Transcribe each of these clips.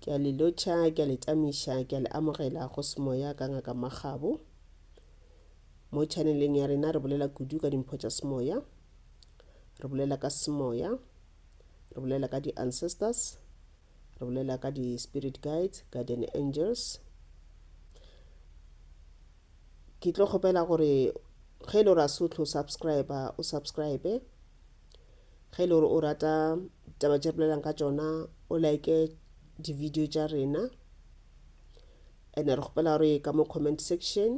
Ke a le lotšha, ke a le tamiša, ke a le amogela go semoya ka Ngaka Makgabo. Mo chaneleng ya rena re bolela kudu ka dimpho tša semoya, re bolela ka semoya, re bolela ka di-ancestors, re bolela ka di-spirit guides, guardian angels. Ke tlo kgopela gore ge e le gore a se o tlo subscriber, o subscribe. Ge e le gore o rata taba tše bolelang ka tšona o like di-video tša rena and re kgopela gore ka mo comment section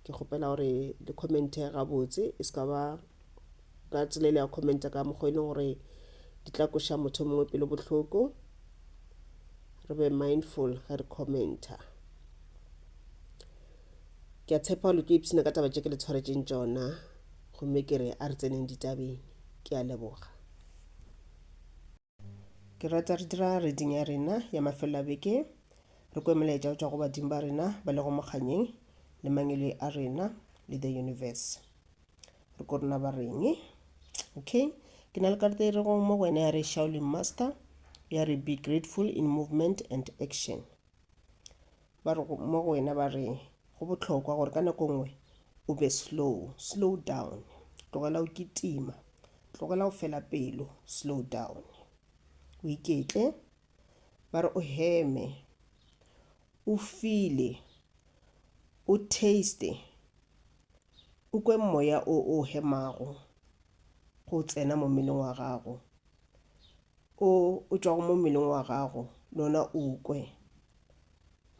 ke kgopela gore le commente gabotse e se ka ba ka tsela ile ya commenta ka mokgwa e leng gore di tla koša motho mongwe pelo bohloko re be mindful ge re commenta ke a tshepa gore le tlo ipshina ka taba tše ke le tshwaretšeng tšona gomme ke re a re tseneng ditabeng. Ke a leboga. Ke rata re dira reading ya rena ya mafelelo a beke, re kwe melaetša go tšwa go badimo ba rena ba lego mokganyeng le mangele a rena le the universe. Re ko rena ba reng. Okay, ke na le karata e rego mo go wena ya re Shaolin Master ya re be grateful in movement and action. Ba re mo go wena ba re go bohlokwa gore ka nako nngwe o be slow, slow down, tlogela go kitima, tlogela go fela pelo, slow down. O iketle, ba re o heme, o file, o taste, o kwe moya o o hemago go tsena mo mmeleng wa gago, o o tšwago mo mmeleng wa gago le ona o kwe,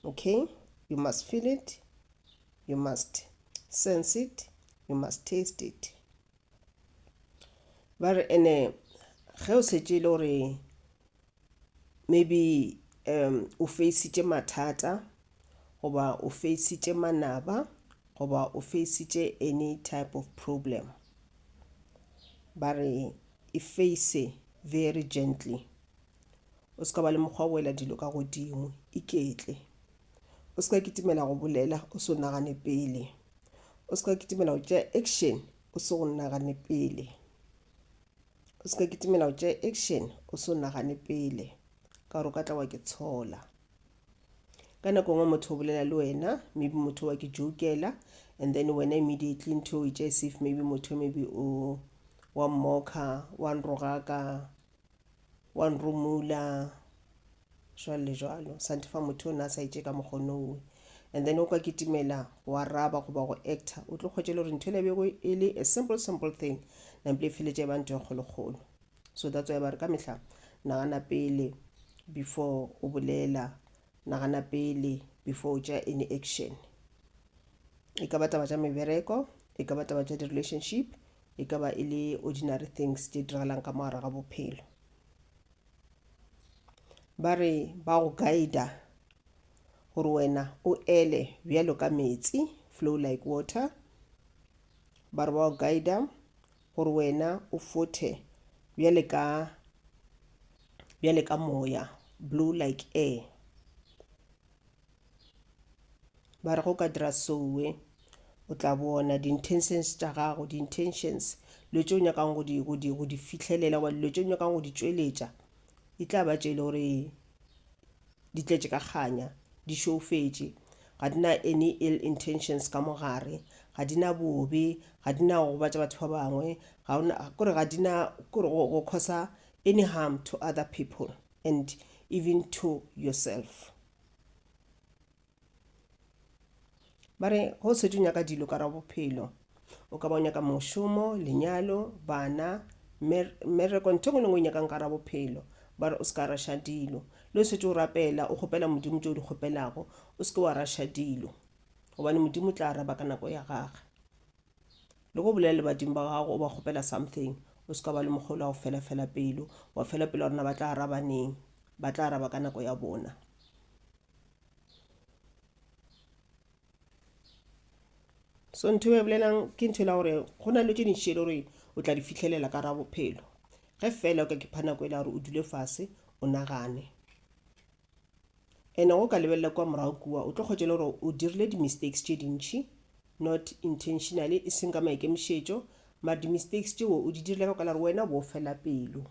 okay you must feel it you must sense it you must taste it ba re ene ge o setse e le gore maybe um o feisitše mathata goba o feisitše manaba goba o feisitše any type of problem ba re e face very gently O se ka ba le mokgwa go ela dilo ka godimo. Iketle. O se ka kitimela go bolela o se o nagane pele. O se ka kitimela go tšea action o se go nagane pele. O se ka kitimela go tšea action o se o nagane pele ka gore o ka tla wa ke tshola. Ka nako nngwe motho o bolela le wena maybe motho wa ke jokela and then wena immediately ntho o e tšea safe maybe motho maybe o wa mmoka wa nrogaka wa nrumula jwalo le jwalo sa ntefa motho o ne a sa itše ka mokgonowe and then o ka kitimela go araba goba go actor o tlo kgwetše le gore ntho e lebego e le a simple simple thing nampile e feletše e ba ntho e kgolokgolo so that's why ba re ka mehla nagana pele before o bolela nagana pele before o tšea any action e ka ba taba tša mebereko e ka ba taba tša di-relationship e ka ba e le ordinary things tše diragalang ka mogare ga bophelo ba re ba go guida gore wena o ele bjalo ka metsi flow like water ba re ba go guida gore wena o fothe bjale ka bjale ka moya blue like air ba re go ka dira sowe o tla bona di-intentions tša gago di-intentions dilo tše o nyakang go di, go di, go di fihlelela goba dilo tše o nyakang go di tšweletša e tla ba tše e le gore di tletše ka kganya di šoufetše ga di na any ill intentions ka mo gare ga di na bobe ga di na go gobatša batho ba bangwe ga ona kore ga di na kore go, go causa any harm to other people and even to yourself ba re go o setse o nyaka dilo ka ra bophelo o ka ba o nyaka mošomo lenyalo bana mmereko ntho ngwe le ngwe o nyakang ka ra bophelo ba re o se ka rasha dilo le o setse o rapela o kgopela modimo tse o di kgopelago o se ke wa rasha dilo gobane modimo tla araba ka nako ya gage le go bolela le badimo ba gago o ba kgopela something o se ka ba le mogolo wa go fela fela pelo wa fela pelo wa rona ba tla araba neng ba tla araba ka nako ya bona so ntho e bolelang ke ntho e la gore go na le tse dintšhi e le gore o tla di fitlhelela ka ra bophelo ge fela o ka kipha nako e la gore o dule fase o nagane ene go ka lebelela kwa morago kua o tlo kgwetša le gore o dirile di-mistakes tše dintšhi not intentionally e seng ka maikemišetšo mare di-mistakes tšeo o di dirile ka kwala gore wena o bo o fela pelo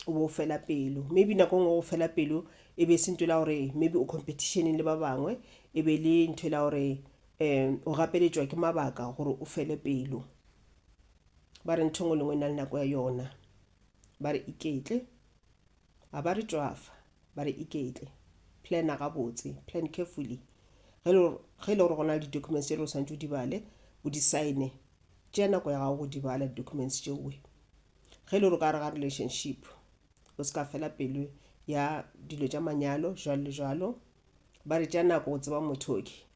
o bo o fela pelo maybe nako ngwe go fela pelo e be e se ntho la gore maybe o competitioneng le ba bangwe e be le ntho la gore um o gapeletšwa ke mabaka gore o fele pelo ba re ntho e nngwe le nngwe e na le nako ya yona ba re iketle A ba re tšwafa, ba re iketle, plana gabotse, plan carefully. Ge le ge le gore go na le di-documents tše le o swanetše o di bale, o di sign-e, tšea nako ya gago go di bala di-documents tšeoe. Ge le gore ka gare ga relationship, o se ka fela pelo ya dilo tša manyalo, jwalo le jwalo. Ba re tšea nako go tseba motho ke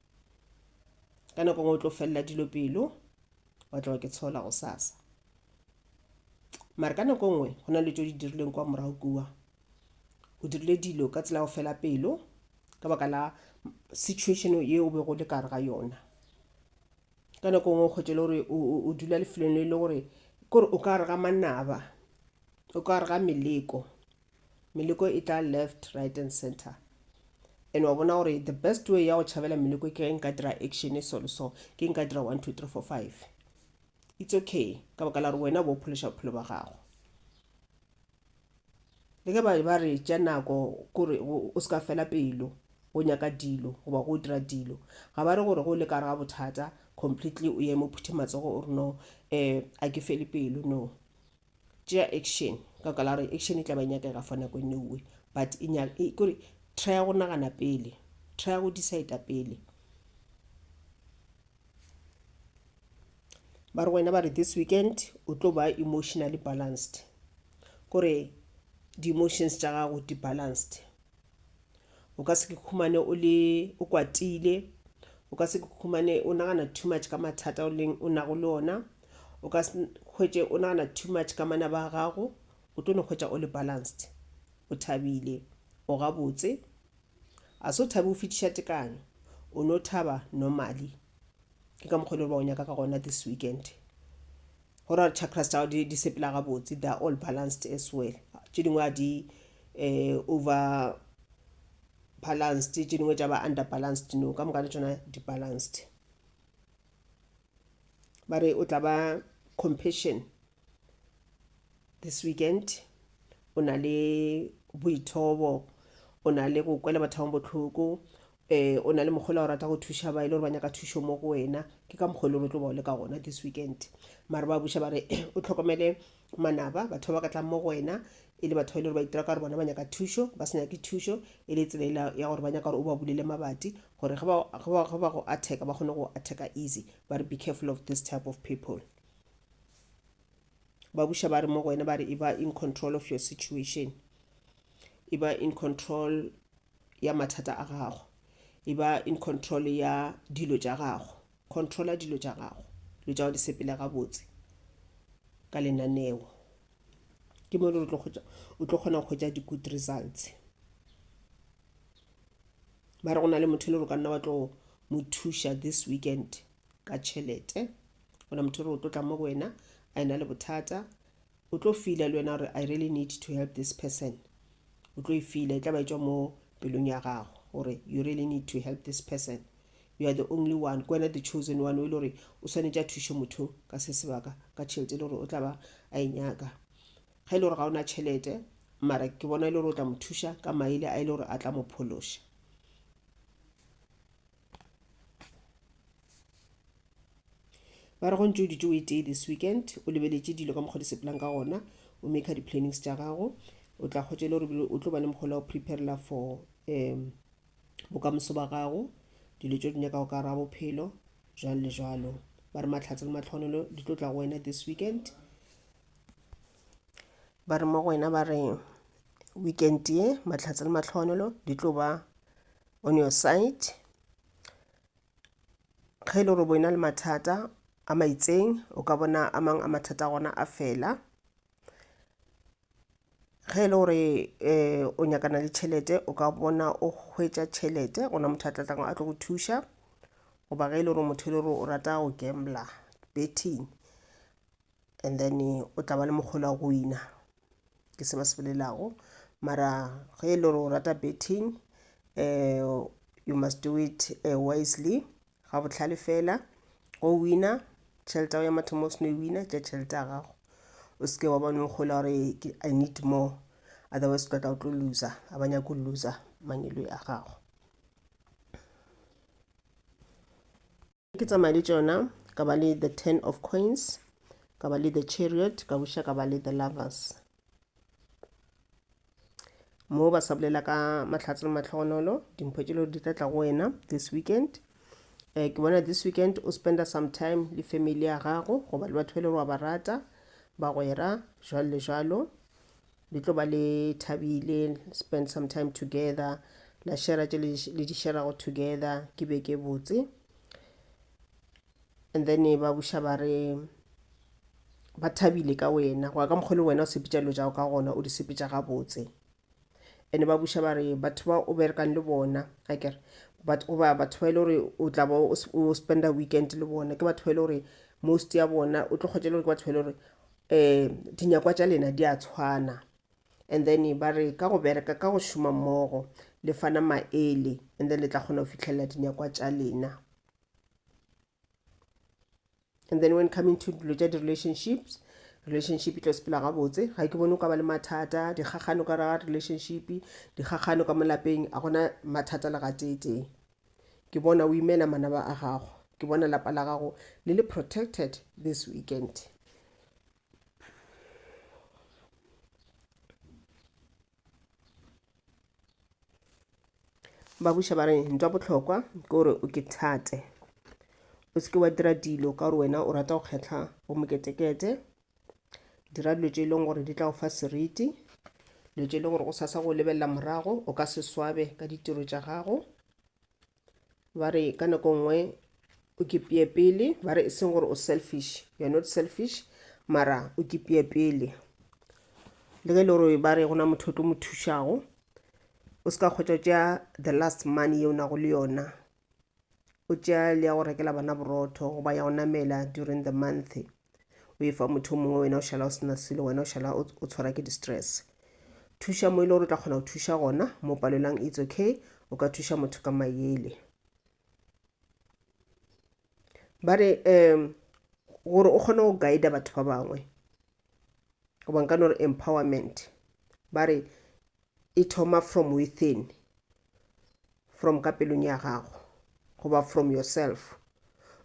ka nako nngwe o tlo felela dilo pelo, wa tloga ke tshola gosasa. mara ka nako nngwe go na le tso di dirileng kwa morago kua o dirile dilo ka tsela go fela pelo ka baka la situation ye o bego le kare ga yona ka nako nngwe kgwetše le gore o dula lefelong le e le gore kore o ka re ga manaba o ka re ga meleko meleko e tla left right and center and wa bona gore the best way ya go tšhabela meleko ke ge nka dira action e so le so ke nka dira one two three four five It's okay, ka baka la gore wena o bo o phološa bophelo ba gago. Le ge ba ba re tša nako kore o se ka fela pelo go nyaka dilo goba go dira dilo, ga ba re gore go le ka gare ga bothata completely o eme o phuthe matsogo o re no um a ke fele pelo no. Tšea action ka baka la gore action e tla ba e nyakega for nako e nngwe but e nya e kore trya go nagana pele, trya go decide-a pele. ba re wena ba re this weekend o tlo ba emotionally balanced kore di-emotions tša gago di-balanced o ka se ke khumane o le o kwatile o ka se ke khumane o nagana too much ka mathata o leng o nago le ona o ka hwetše o nagana too much ka mana ba gago o tlo no hwetša o le balanced o thabile o gabotse A se o thabe go fetiša tekanyo? O no thaba normally. Ke ka mokgwa e le gore ba go nyaka ka gona this weekend. Go ra chakras tsa di di sepela ga botse, they are all balanced as well. Tše dingwe a di eh over balanced, tše dingwe tša ba under balanced, no ka moka le tsona di balanced. Ba re o tla ba compassion this weekend o na le boithobo o na le go kwela batho ba botlhoko um eh, o na le mokgolo o rata go thuša ba e le gore ba nyaka thušo mo go wena ke ka mokgolo e le tlo bao le ka gona this weekend mare ba buša ba re o tlhokomele manaba batho ba ba ka tlang mo go wena e le batho ba e le gore ba itira ka gore bona ba nyaka thušo ba se nyake thušo e le tsela ya gore ba nyaka gore o ba bulele mabati gore ge ba go attack ba kgone go attack easy ba re be careful of this type of people ba buša ba re mo go wena ba re e ba in control of your situation e ba in control ya mathata a gago e ba in control ya dilo tša gago controla dilo tša gago dilo tša go di sepele gabotse ka lenaneo ke mo le o tlo kgona go hwetša di-good results ba re go na le motho le gore ka nna wa tlo mo thuša this weekend ka tšhelete gona motho re o tlo tla mo go wena a ena le bothata o tlo feela le wena gore i really need to help this person o tlo e feela e tla ba etswa mo pelong ya gago gore you really need to help this person you are the only one ke wena the chosen one o e le gore o swanetše a thuše motho ka se sebaka ka tšhelete e le gore o tla ba a e nyaka ga e le gore ga o na tšhelete mara ke bona e le gore o tla mo thuša ka maele a e le gore a tla mo phološa ba re go ntse o ditse o e tee this weekend o lebeletše dilo ka mokgwa di sepelang ka gona o maker di-plannings tša gago o tla kgotsa e le gore o tlo ba le mokgola o preparela for um bokamoso ba gago dilo tse o di nyakago ka ra bophelo jalo le jalo ba re matlhatse le matlhonolo di tlo tla go wena this weekend ba re mo go wena ba re weekend ye matlhatse le matlhonolo di tlo ba on your side ge e le gore bo ena le mathata a maitseng o ka bona a mang a mathata a gona a fela ge e le gore um o nyakana le tšhelete o ka bona o hwetša tšhelete gona motho a tlatlago a tlo go thuša goba ge e le gore motho e le gore o rata go gambler betting and then o tla ba le mokgolo wa go wina ke se ba se bolelago mara ge e le gore o rata betting um you must do it uh, wisely ga botlhale fela go wina tšhelete ya mathomo o seno e wina tša tšhelete ya gago o seke wa bone gola gore i need more otherwise tla tla o tlo loser a ba nyako loser mangelo a gago ke tsamaya le tšona ka ba le the ten of coins ka ba le the chariot ka buša ka ba le the lovers moo ba sa bolela ka mahlatse le matlhogonolo dimpho tše leo di tla tla go wena this weekend um ke bona this weekend o spenda some time le family ya gago goba le batho ba e le gore wa ba rata bagwera jalo le jalo le tlo ba le thabile spend some time together la shera tše le di sherago together ke be ke botse and then ba buša ba re ba thabile ka wena go ya ka mokgwa le wena o sepetša dilo tšago ka gona o di sepetša gabotse and ba buša ba re batho ba o berekang le bona a kere goba batho ba e le gore o tla ba o spenda weekend le bona ke batho ba e le gore most ya bona o tlo kgotsa e le gore ke batho ba e le gore eh dinyakwa tša lena di a tshwana and then ba re ka go bereka ka go šoma mmogo le fana maele and then le tla kgona go fitlhelela dinyakwa tša lena and then when coming to dilo tša di-relationships relationship e tlo sepela gabotse ga ke bone o ka ba le mathata dikgagano ka raga relationship dikgagano ka molapeng a gona mathata le gateetee ke bona o imela manaba a gago ke bona lapa la gago le le protected this weekend ba buša ba re ntwa bohlokwa ke gore o ke thate o seke wa dira dilo ka gore wena o rata go kgetlha bomoketekete dira dilo tše e leng gore di tla go fa seriti dilo tše e leng gore o sasa go lebelela morago o ka se swabe ka ditiro tša gago ba re ka nako nngwe o kipeye pele ba re e seng gore o selfish you are not selfish mara o kipeye pele le ge e le gore ba re gona motho o tlo mo thušago o se ka kgotsa tša the last money ye o nago le yona o tšea le ya go rekela bana borotho goba ya go namela during the month o e fa motho mongwe wena o šala o sena selo wena o šala o tshwara ke di-stress thuša mo e le gore o tla kgona go thuša gona mo palelang it's okay o ka thuša motho ka mayele ba re um gore o kgone go guida batho ba bangwe goba nka no re empowerment ba re e thoma from within from ka pelong ya gago goba from yourself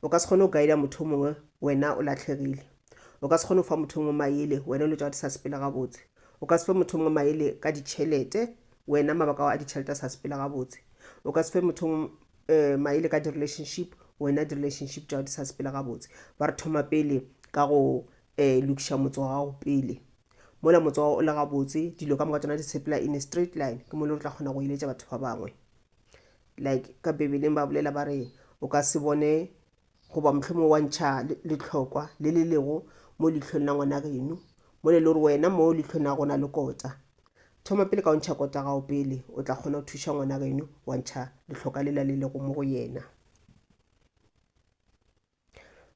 o ka se kgone go guida motho mongwe wena o latlhegile o ka se kgone go fa motho mongwe maele wena o le tsa di sa sepela gabotse o ka se fe motho mongwe maele ka ditšhelete wena mabaka ao a ditšhelete a sa sepela gabotse o ka se fe motho mongwe eh, maele ka di-relationship wena di-relationship tšao di sa sepela gabotse ba re thoma pele ka go um lokiša motse wa gago pele mola motse wa o le gabotse dilo ka moka tsona di sepela in a straight line ke mole re tla kgona go eletša batho ba bangwe like ka bebeleng ba bolela ba re o ka se bone goba mohlomong wa ntšha letlhokwa le le lego mo leitlhong la ngwana geno mo le le gore wena mo leitlhong la gona le kota thoma pele ka o ntšha kota gago pele o tla kgona go thuša ngwana geno wa ntšha letlhoka lela le lego mo go yena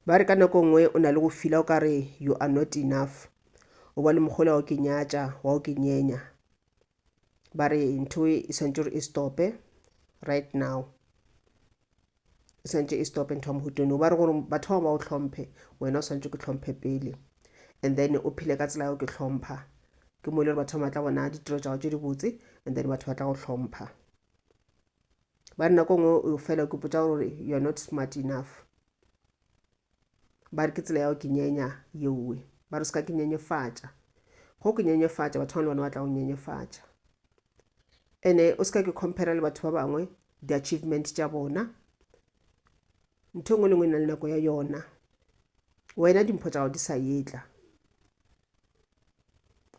Ba re ka nako nngwe o na le go fila o ka re you are not enough. O ba le mogole wa go ke nyatša, wa go ke nyenya. Ba re ntho e swantse gore e stope right now. E swantse e stope ntho ya mohutone. O ba re gore batho ba ba o tlhomphe, wena o swantse ke tlhomphe pele. And then o phile ka tsela ya go ke tlhompha. Ke mo e le gore batho ba matla bona ditiro tša go tše dibotse and then batho ba tla go tlhompha. ba re nako e nngwe o fela ke potsa gore you are not smart enough ba re ke tsela ya go kenyenya yeowe ba re se ka ke nyenyefatša go ke nyenyefatša batho bane bone ba tla go nyenyefatša ene o se ka ke compare le batho ba bangwe di-achievement tša bona ntho e nngwe le nngwe e na le nako ya yona wena dimpho tsa gago di sa etla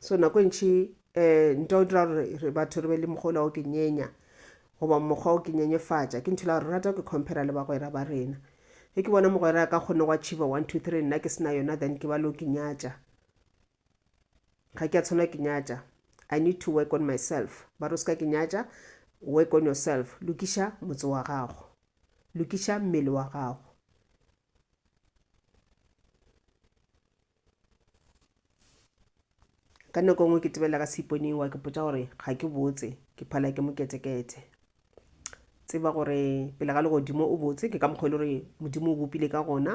so nako e ntšhi um ntwa o dira gore re batho re be le mokgwa ola o ke nyenya goba mokgwa o ke nyenyefatša ke nthola gore rata ke compara le bagwera ba rena ge ke bona mogwera a ka kgone go achieva one two three nna ke sena yona then ke ba le o ke nyatša ga ke a tshwanela ke nyatša i need to work on myself ba ro se ka ke nyatša work on yourself lokiša motse wa gago lokiša mmele wa gago ka nako nngwe ke tebela ka seiponing wa ke potsa gore ga ke botse ke phala ke moketekete tseba gore pele ga legodimo o botse ke ka mokgwa e le gore modimo o bopile ka gona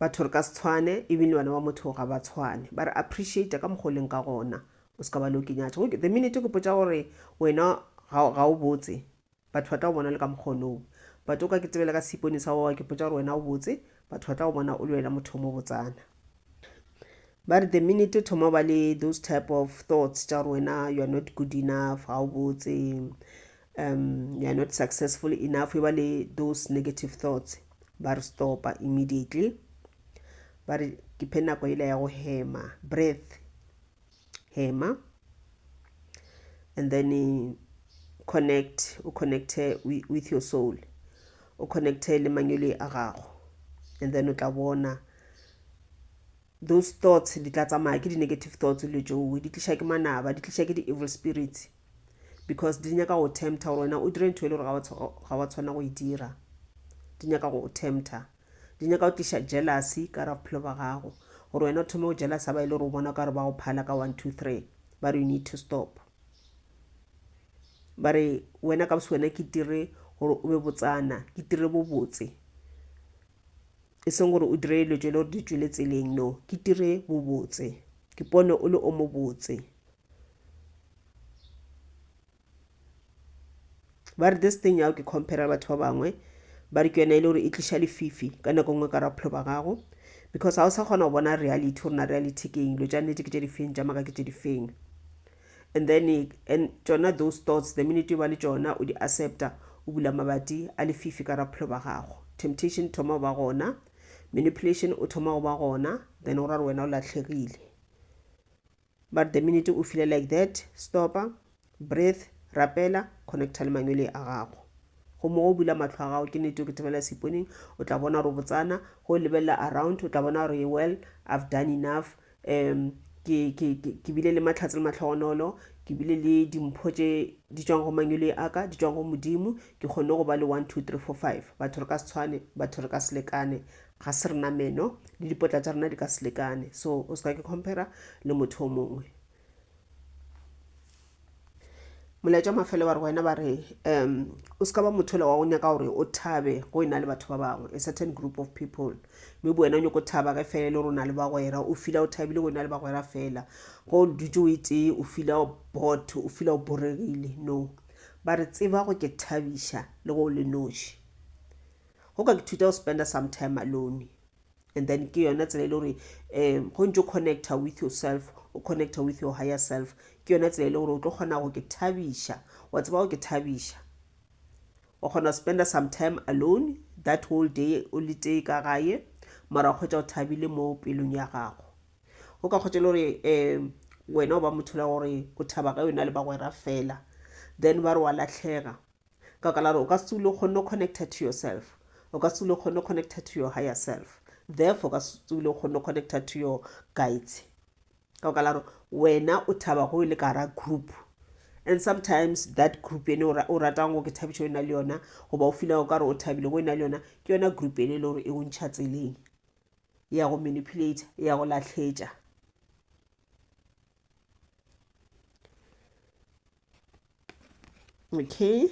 batho re ka se tshwane ebile bana ba motho ga ba tshwane ba re appreciate ka mokgwa o leng ka gona o se ka ba le o kenyatso the minute ke potsa gore wena ga o botse Batho ba tla go bona o le ka mokgwa onoo. But o ka ke tebele ka seipone sa gowa ke potša gore wena o botse, batho ba tla go bona o le wena motho o mo botsana. Ba re the minute o thoma ba le those type of thoughts tša gore wena you are not good enough, ga o botse, um you are not successful enough, e ba le those negative thoughts, ba re stopa immediately. Ba re ke phe nako ele ya go hema, breath, hema and then eh, connect o connecte with your soul o connecte le manyole a gago and then o tla bona those thoughts di tla tsamaya ke di-negative thoughts le joe di tliša ke manaba di tliša ke di-evil spirits because di nyaka go tempta gore wena o dire ntho e le gore ga wa tshwana go e dira di nyaka go tempta Di nyaka go tliša jealousy ka gare ga bophelo bja gago, gore wena o thome go jealousa ba e le gore o bona o ka re ba go phala ka one, two, three. Ba re you need to stop. Ba re wena ka bose wena ke dire gore o be botsana, ke dire bobotse. E seng gore o dire dilo tše e le gore di tšwele tseleng, no. Ke dire bobotse, ke pone o le o mobotse. ba re this thing ya ke compare batho ba bangwe ba re ke yone e le gore e tliša lefifi ka nako nngwe ka ra bophelo ba gago because ga o sa kgona go bona reality gore na reality ke eng lo tša nnete ke tše difeng tša maka ke tše difeng and then and tsona those thoughts the minute ba le tsona o di accepta o bula mabati a lefifi ka raphelo ba gago temptation thoma go ba gona manipulation o thoma go ba gona then o ra re wena o latlhegile But the minute o file like that, stopa, breathe, rapela, connecta le mangwele a gago. Gomme go bula mahlo a gago, ke nete o ketebela seponing, o tla bona gore o botsana, go lebelela around, o tla bona gore well, I've done enough, um, ke, ke, ke, ke bile le mahlatse le matlhogonolo, ke bile le dimpho tše di tšwang go mangwele a ka, di tšwang go Modimo, ke kgonne go ba le one, two, three, four, five. Batho re ka se tshwane, batho re ka se lekane, ga se rena meno le dipotla tša rena di ka se lekane so o se ka ke compara le motho o mongwe molaetša mafele wa re wena ba re um o se ka ba motho le wa go nyaka gore o thabe go e na le batho ba bangwe a certain group of people mme bo wena o nyako thaba ge fela e le gore o na le bagwera o fila o thabile go e na le bagwera fela go dutse o e tee o fila bot o fila o boregile no ba re tseba go ke thabiša le go o le noši go ka ithuta go spenda some time alone and then ke yona tsela e le gore um go ntse o connecta with yourself o connecta with your higher self ke yona tsela e le gore o tlo kgona go ke thabiša wa tseba go ke thabiša wa kgona go spenda some time alone that whole day o le tee ka gae mara o kgwetsa o thabile mo pelong ya gago o ka kgwetsa e le gore um wena o ba motho la gore o thaba ka yona le bagwera fela then ba re wa latlhega Ka baka la gore o ka se o kgonne go connecta to yourself, o ka se o kgonne go connecta to your higher self, therefore o ka se o kgonne go connecta to your guides. Ka baka la gore wena o thaba go le ka gara group and sometimes that group ene o ratang go ke thabišo e na le yona goba o feela o ka re o thabile go e na le yona ke yona group ene e le gore e o ntšha tseleng ya go manipulate ya go lahletša okay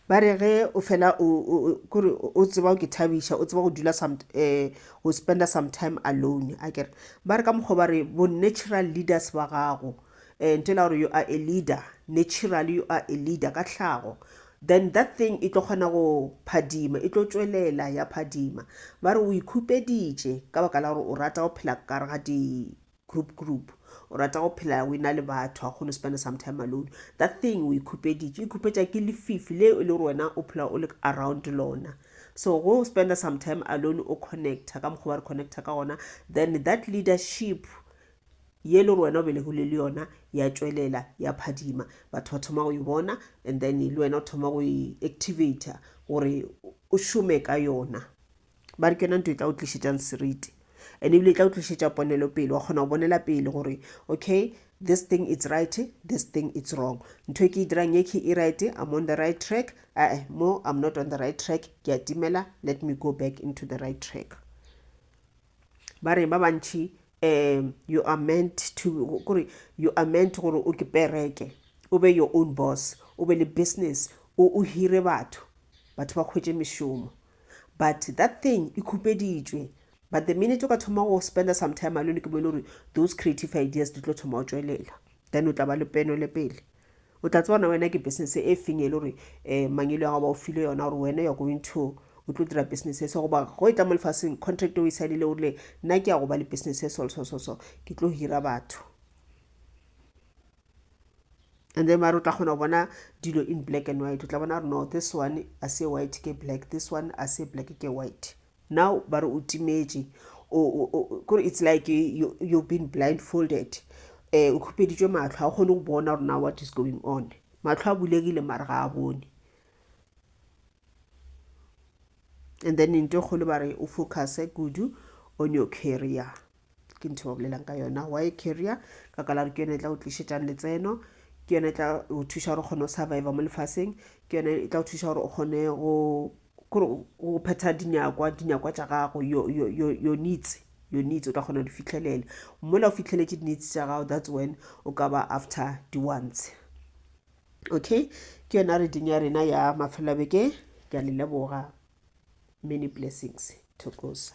ba re ge o fela kore o tseba ke thabiša o tseba go dula some um go spenda some time alone a kere ba re ka mokgwa ba re bo natural leaders ba gago um nto la gore you are a leader natural you are a leader ka tlhago then that thing e tlo kgona go phadima e tlo tswelela ya phadima ba re o ikhupeditše ka baka la gore o rata go phela kare ga di group group o rata go phela o ena le batho ga kgone spend some time alone that thing o ikhupeditše ikhupetša ke lefifi le e le gore wena o phela o le around lona so go spend some time alone o connecta ka mokgwa ba re connecta ka gona then that leadership ye e le gore wena o belegile le yona ya tšwelela ya phadima batho ba thoma go e bona and then le wena o thoma go e activator gore o šome ka yona ba re ke yona nto e tla o tlišetšang seriti and ebile e tla o tlišetša ponelo pele wa kgona go bonela pele gore okay this thing it's right this thing it's wrong ntho e ke e dirang e ke e right i'm on the right track ae mo i'm not on the right track ke a timela let me go back into the right track ba re ba bantšhi um you are meant to kore you are meant gore o ke pereke o be your own boss o be le business o hire batho batho ba kgwetse mešomo But that thing e khupeditšwe. But the minute o ka thoma go spenda some time alone ke mo e le gore those creative ideas di tlo thoma go tšwelela. Then o tla ba le peno le pele. O tla tsebana wena ke business e feng e le gore um mangelo ya gago ba o file yona gore wena you're going to o tlo dira business eso goba go e tla mo lefaseng contract o e saenile o rile nna ke ya go ba le business eso so so so ke tlo hira batho and then mare o tla kgona go bona dilo in black and white o tla bona gore no this one a se white ke black this one a se black ke white now ba re o timetše kore it's like you, you've been blindfolded um o khupeditšwe matlho ga o kgone go bona gore na what is going on matlho a bulegile mare ga a bone and then into kgolo ba re o focuse kudu on your career ke ntho ba bolelang ka yona why carrier ka kala gore ke yone e tla go tlišetšang letseno ke yone e tla go thuša gore o kgone go surviva mo lefaseng ke yone e tla go thuša gore o kgone go go phetha dinyakwa dinyakwa tša gago your needs your needs o tla kgona go di fitlhelela mola o fitlheletse di-needs tša gago that's when o ka ba after di-ones okay ke yona reading ya rena ya mafelelabeke ke a le leboga many blessings thokosa